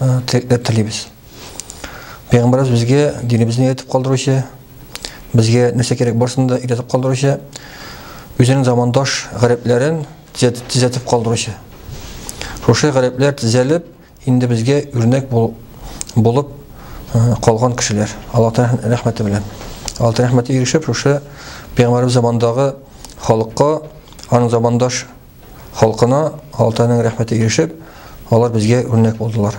тилекләр телибез. Пәйгамбәрбез безгә динебезне өйрәтеп калдыручы, безгә нәрсә кирәк барсын да өйрәтеп калдыручы, үзенең замандаш гарәпләрен төзәтеп калдыручы. Шушы гарәпләр төзәлеп, инде безгә үрнәк булып калган кешеләр. Аллаһ Тәгалә рәхмәте белән. Аллаһ Тәгалә рәхмәте ирешеп, шушы пәйгамбәрбез замандагы халыкка, аның замандаш халкына Алтайның рәхмәте ирешеп, алар безгә үрнәк булдылар.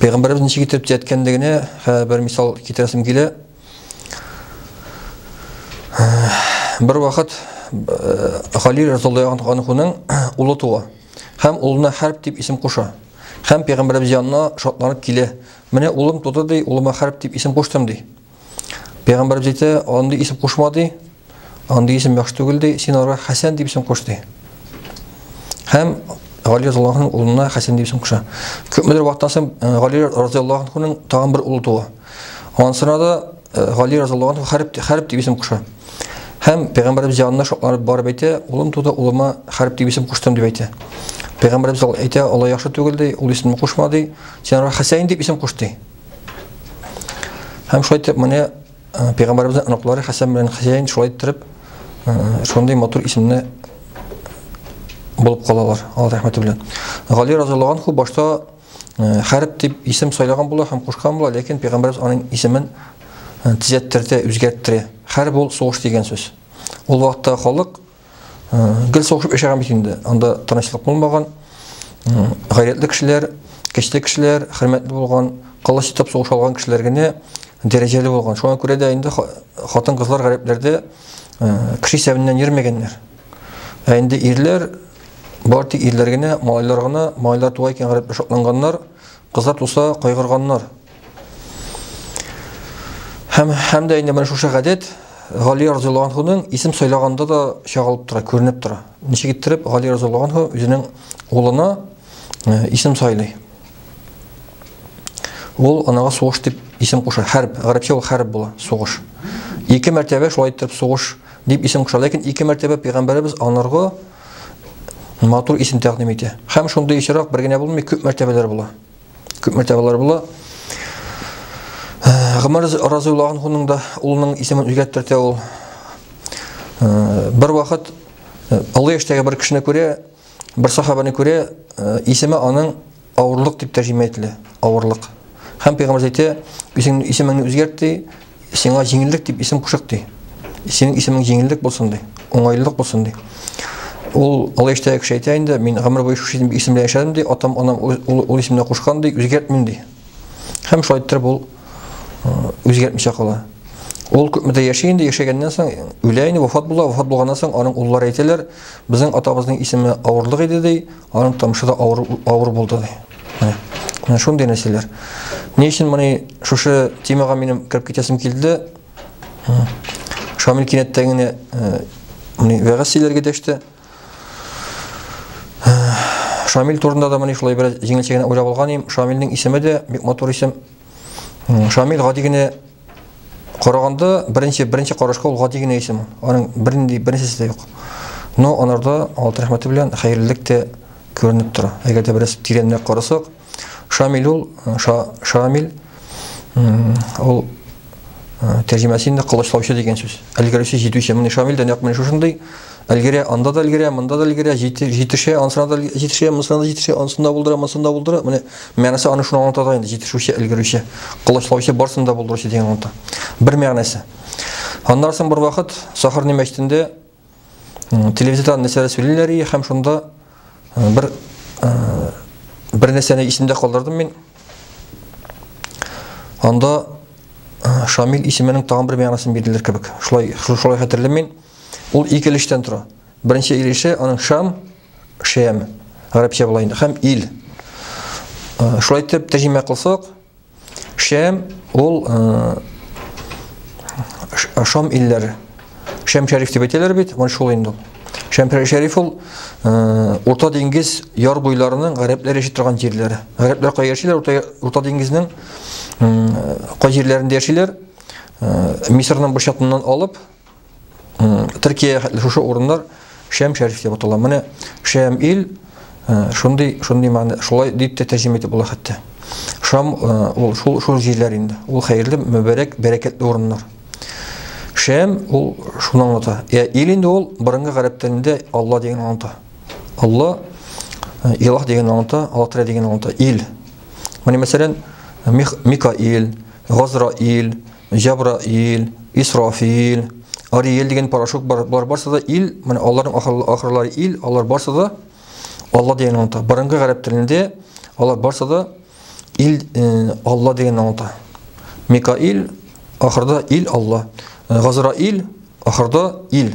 Пәйгамбәрбез ничек итеп төзәткәнлегенә бер мисал китерәсем килә. Бер вакыт Халил разыйаллаһу анхуның улы туа һәм улына Хәрб дип исем куша. Һәм пәйгамбәрбез янына шатланып килә. Менә улым туды ди, улыма Хәрб дип исем куштым ди. Пәйгамбәрбез әйтә, андый исем кушма ди. Андый исем яхшы түгел ди, син ара Хәсән дип исем куш ди. Һәм Гали разыяллаһуның улына Хәсән дип исем куша. Күпмедер вакыттан соң э, Гали разыяллаһуның тагын бер улы туа. Ансына да э, Гали разыяллаһу хәрб хәрб дип исем куша. Һәм пәйгамбәрбез янына шатланып барып әйтә, улым туды, улыма хәрб дип исем куштым дип әйтә. Пәйгамбәрбез әйтә, Алла яхшы түгел ди, ул исемне кушма ди. Син ара Хәсән дип исем куш ди. Һәм шулай итеп, менә Пәйгамбәребезнең оныклары Хәсән белән Хәсәйн шулай иттереп шундый матур исемне булып калалар, Аллаһ рәхмәте белән. Гали разыйлы анху башта Хәрб дип исем сайлаган була һәм кушкан була, ләкин пәйгамбәребез аның исемен төзәттерде, үзгәртте. Хәрб ул сугыш дигән сүз. Ул вакытта халык Гел сугышып яшәгән бит инде. Анда тынычлык булмаган. Гайрәтле кешеләр, кече кешеләр, хөрмәтле булган, кылыч итеп сугыш алган кешеләр генә дәрәҗәле булган. Шуңа күрә дә инде хатын-кызлар гарәпләрдә кеше исәбеннән йөрмәгәннәр. Ә инде ирләр бар тик ирләр генә, малайлар гына, малайлар туа икән гарәпләр шатланганнар, кызлар туса кайгырганнар. Һәм, һәм дә инде менә шушы гадәт Гали разыйлы анхуның исем сайлаганда да чагылып тора, күренеп тора. Ничек иттереп Гали разыйлы анху үзенең улына э, исем сайлый. Ул анага сугыш дип исем куша. Хәрб, гарәпчә ул хәрб була, сугыш. Ике мәртәбә шулай итеп сугыш дип исем куша. Ләкин ике мәртәбә пәйгамбәребез анарга матур исем тәкъдим итә. Һәм шундый очрак бер генә булмый, күп мәртәбәләр була. Күп мәртәбәләр була. Гомәр разыйлы анхуның да улының исемен үзгәрттерте ул. Бер вакыт олы яшьтәге бер кешене күрә, бер сахабаны күрә, исеме аның авырлык дип тәрҗемә ителә. Авырлык. Һәм пәйгамбер әйтә, исемеңне үзгәрт ди, Сиңа җиңеллек дип исем кушык ди. Синең исемең җиңеллек булсын ди, уңайлылык булсын ди. Ул олы яшьтәге кеше әйтә инде, мин гомер буе шушы исем белән яшәдем ди, атам анам ул, ул исемне кушкан ди, үзгәртмим ди. Һәм шулай иттереп ул үзгәртмичә кала. Ул күпмедә яши инде, яшәгәннән соң үлә инде, вафат була, вафат булганнан соң аның уллары әйтәләр, безнең атабызның исеме авырлык иде ди, Аның томшы да авыр, авыр булды. Менә, менә шундый нәрсәләр. Ни өчен моны шушы темага минем кереп китәсем килде? Шамил кинәттән генә моны вәгазь сөйләргә дәште. Шамил турында да моны шулай бераз җиңелчә генә уйлап алган идем. Шамилнең исеме дә бик матур исем. Шамил гади генә Караганда беренче беренче карашка ул гади генә исем. Аның бернинди беренчесе дә юк. Но анарда алты рәхмәте белән хәерлелек тә күренеп тора. Әгәр дә бераз тирәнрәк карасак, Шамил ул Шамил ул тәрҗемәсе инде кылычлаучы дигән сүз. Әлгәрүче җитүче. Менә Шамил дә нәкъ менә шушындый әлгәрә, анда да әлгәрә, монда да әлгәрә, җитешә, ансына да җитешә, монысына да җитешә, ансында булдыра, монысында булдыра. Менә Мәгънәсе аны шуны аңлата да инде, җитешүче, өлгерүче, колачлаучы барсын да булдыручы дигән аңлата. Бер мәгънәсе. Аннан соң бер вакыт Сахарны мәчетендә телевизордан нәрсәләр сөйлиләр и һәм шунда бер бер нәрсәне исемдә калдырдым мин. Анда Шамил исеменең тагын бер мәгънәсен бирделәр кебек. Шулай шулай хәтерлим мин. Ул ике өлештән тора. Беренче өлеше аның Шам, Шәм, гарәпчә була инде, һәм ил. Э, шулай итеп тәрҗемә кылсак, Шәм ул э, Шам илләр. Шәм шәриф дип әйтәләр бит, менә шул инде. Шәм шәриф ул э, Урта диңгез яр буйларының гарәпләр яши торган җирләре. Гарәпләр кай яшиләр? Урта, Урта диңгезнең кай җирләрендә яшиләр? Мисырның бу чатыннан алып Төркия хәтле шушы урыннар Шәм шәриф дип атала. Менә Шәм ил э, шундый шундый мәгънә шулай дип тә тәрҗемә итеп була хәтта. Шам э, ул шул шул җирләр инде. Ул хәерле, мөбәрәк, бәрәкәтле урыннар. Шәм ул шуны аңлата. Я ил инде ул борынгы гарәп телендә Алла дигән аңлата. Алла э, Илаһ дигән аңлата, Алла Тәгалә дигән аңлата. Ил. Менә мәсәлән, Микаил, Газраил, Җабраил, Исрафил, Ариел дигән порошок бар. Болар барсы да ил, менә аларның ахырлары ил, алар барсы да Алла дигән аңлата. Борынгы гарәп телендә алар барсы да ил э, Алла дигән аңлата. Микаил ахырда ил Алла. Э, Газраил ахырда ил.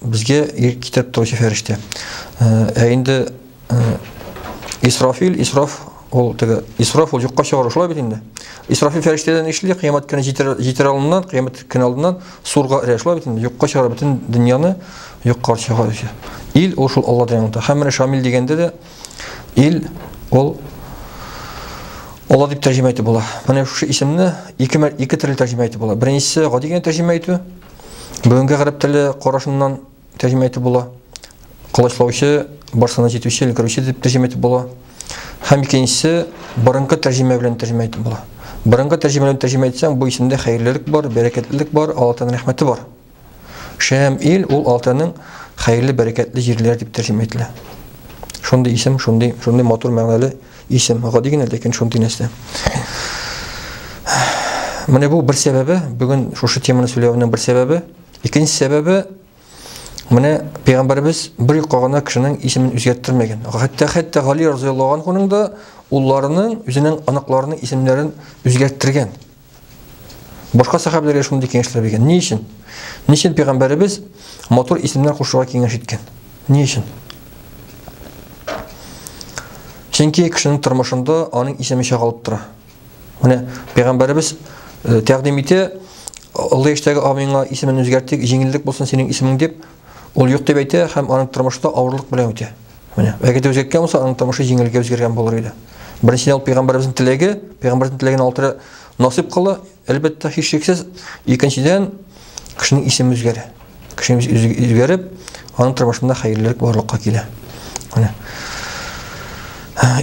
Безгә ир китереп торучы фәрештә. Ә инде Исрафил, Исраф ул теге Исраф ул юкка чыгару шулай бит инде. Исрафил фәрештәдән эшли, кыямәт көне җитер җитер алдыннан, кыямәт көне алдыннан сурга эрә шулай бит инде. Юкка чыгара бөтен дөньяны юкка чыгаручы. Ил ул шул Аллаһ дигән ата. Һәм менә Шамил дигәндә дә ил ул Аллаһ дип тәрҗемә итеп була. Менә шушы исемне ике ике төрле тәрҗемә итеп була. Беренчесе гади генә тәрҗемә итү, Бүгенге гарәп теле карашыннан тәрҗемә итеп була. Колачлаучы, барсына җитүче, өлгерүче дип тәрҗемә итеп була. Һәм икенчесе борынгы тәрҗемә белән тәрҗемә итеп була. Борынгы тәрҗемә белән тәрҗемә итсәң, бу исемдә хәерлелек бар, бәрәкәтлелек бар, Аллаһның рәхмәте бар. Шәм ил ул Аллаһның хәерле, бәрәкәтле җирләре дип тәрҗемә ителә. Шундый исем, шундый, шундый матур мәгънәле Исем, гади генә, ләкин шундый нәрсә. Менә бу бер сәбәбе, бүген шушы теманы сөйләвенең бер сәбәбе. Икенче сәбәбе, менә пәйгамбәребез бер юкка гына кешенең исемен үзгәрттермәгән. Хәтта хәтта Гали разыяллаһу анһуның да улларының, үзенең аныкларының исемнәрен үзгәрттергән. Башка сәхәбәләргә шундый киңәшләр биргән. Ни өчен? Ни өчен пәйгамбәребез матур исемнәр кушуга киңәш иткән? Ни өчен? Чөнки кешенең тормышында аның исеме чагалып тора. Менә пәйгамбәребез э, тәкъдим итә, олы яшьтәге абыеңа исемен үзгәртик, җиңеллек булсын синең исемең дип, Ул юк дип әйтә һәм аның тормышта авырлык белән үтә. Менә, әгәр дә үзгәрткән булса, аның тормышы җиңелгә үзгәргән булыр иде. Беренчедән ул пәйгамбәребезнең теләге, пәйгамбәрнең теләген алтыра насыйп кыла, әлбәттә, һичшиксез. Икенчедән, кешенең исеме үзгәрә. Кешенең исеме үзгәреп, аның тормышында хәерлелек барлыкка килә. Менә.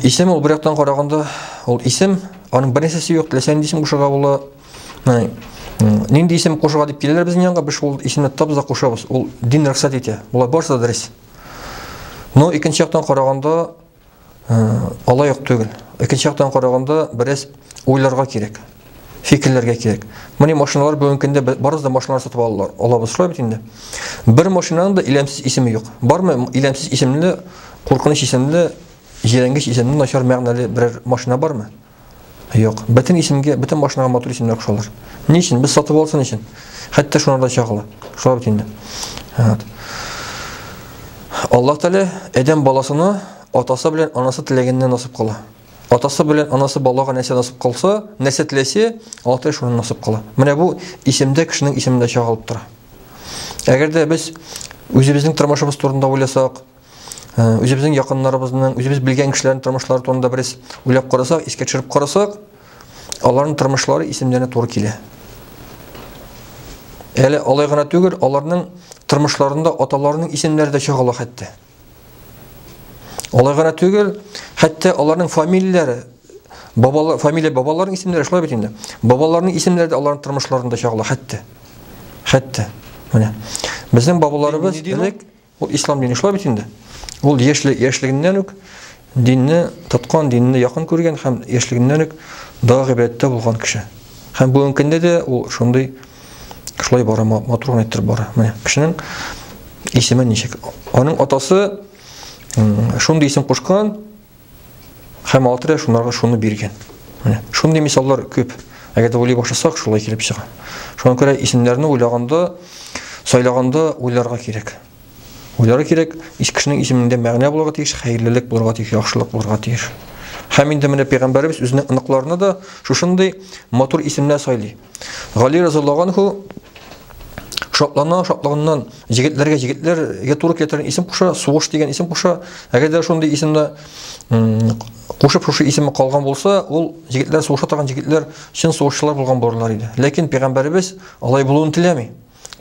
Исем ул бер яктан караганда, ул исем, аның беренчесе юк, теләсә нинди исем кушырга була, Менә нинди исем кушырга дип киләләр безнең янга, без шул исемне тотабыз да кушабыз. Ул дин рөхсәт итә. Болар барысы да дөрес. Но икенче яктан караганда алай ук түгел. Икенче яктан караганда бераз уйларга кирәк. Фикерләргә кирәк. Менә машиналар бүгенге көндә барысы да машиналар сатып алалар. Алабыз шулай бит инде. Бер машинаның да иләмсез исеме юк. Бармы иләмсез исемле, куркыныч исемле, җирәнгеч исемле, начар мәгънәле берәр машина бармы? Юк, бөтен исемгә, бөтен машинага мотор исемнәр кушалар. Ни өчен? Без сатып алсын өчен. Хәтта шуларда чагыла. Шулар бит инде. Вот. Аллаһ Тәгалә Адәм баласына атасы белән анасы теләгәнне насып кыла. Атасы белән анасы балага нәрсә насып кылса, нәрсә теләсә, алты шуны насып кыла. Менә бу исемдә кешенең исемендә чагылып тора. Әгәр дә без үзебезнең тормышыбыз турында уйласак, Үзебезнең якыннарыбызның, үзебез белгән кешеләрнең тормышлары турында бераз уйлап карасак, искә төшереп карасак, аларның тормышлары исемнәренә туры килә. Әле алай гына түгел, аларның тормышларында аталарының исемнәре дә чагыла хәтта. Алай гына түгел, хәтта аларның фамилияләре, бабалар, фамилия бабаларының исемнәре шулай бит инде. Бабаларының исемнәре дә аларның тормышларында чагыла хәтта. Хәтта. Менә. Безнең бабаларыбыз элек Ул ислам дине шулай бит инде. Ул яшьле яшьлегеннән үк динне тоткан, динне якын күргән һәм яшьлегеннән үк дага гыйбадәттә булган кеше. Һәм бүгенге көндә дә ул шундый шулай бара, матур гына иттереп бара. Менә кешенең исеме ничек? Аның атасы шундый исем кушкан, Һәм алты шунарга шуны биргән. Менә шундый мисаллар күп. Әгәр дә уйлый башласак, шулай килеп чыга. Шуңа күрә исемнәрне уйлаганда, сайлаганда уйларга кирәк. Уйларга кирәк, ис кешенең исемендә мәгънә булырга тиеш, хәерлелек булырга тиеш, яхшылык булырга тиеш. Һәм инде менә пәйгамбәребез үзенең оныкларына да шушындый матур исемнәр сайлый. Гали разыйаллаһу анху шатлана шатлыгыннан Җегетләргә җегетләргә туры килә торган исем куша, сугыш дигән исем куша. Әгәр дә шундый исемне кушып шушы исеме калган булса, ул егетләр сугыша торган егетләр чын сугышчылар булган булырлар иде. Ләкин пәйгамбәребез алай булуын теләми.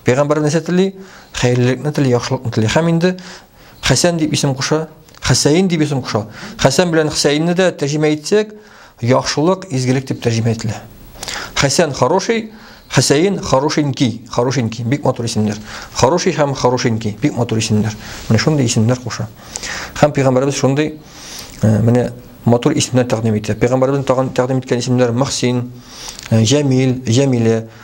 Пәйгамбәребез нәрсә тели? Хәерлелекне тели, яхшылыкны тели. Һәм инде Хәсән дип исем куша, Хәсәен дип исем куша. Хәсән белән Хәсәенне дә тәрҗемә итсәк, яхшылык, изгелек дип тәрҗемә ителә. Хәсән хороший, Хәсәен хорошенький, хорошенький, бик матур исемнәр. Хороший һәм хорошенький, бик матур исемнәр. Менә шундый исемнәр куша. Һәм пәйгамбәрбез шундый э, менә матур исемнәр тәкъдим итә. Пәйгамбәрбез тәкъдим иткән исемнәр Мөхсин, э, Җәмил, Җәмилә,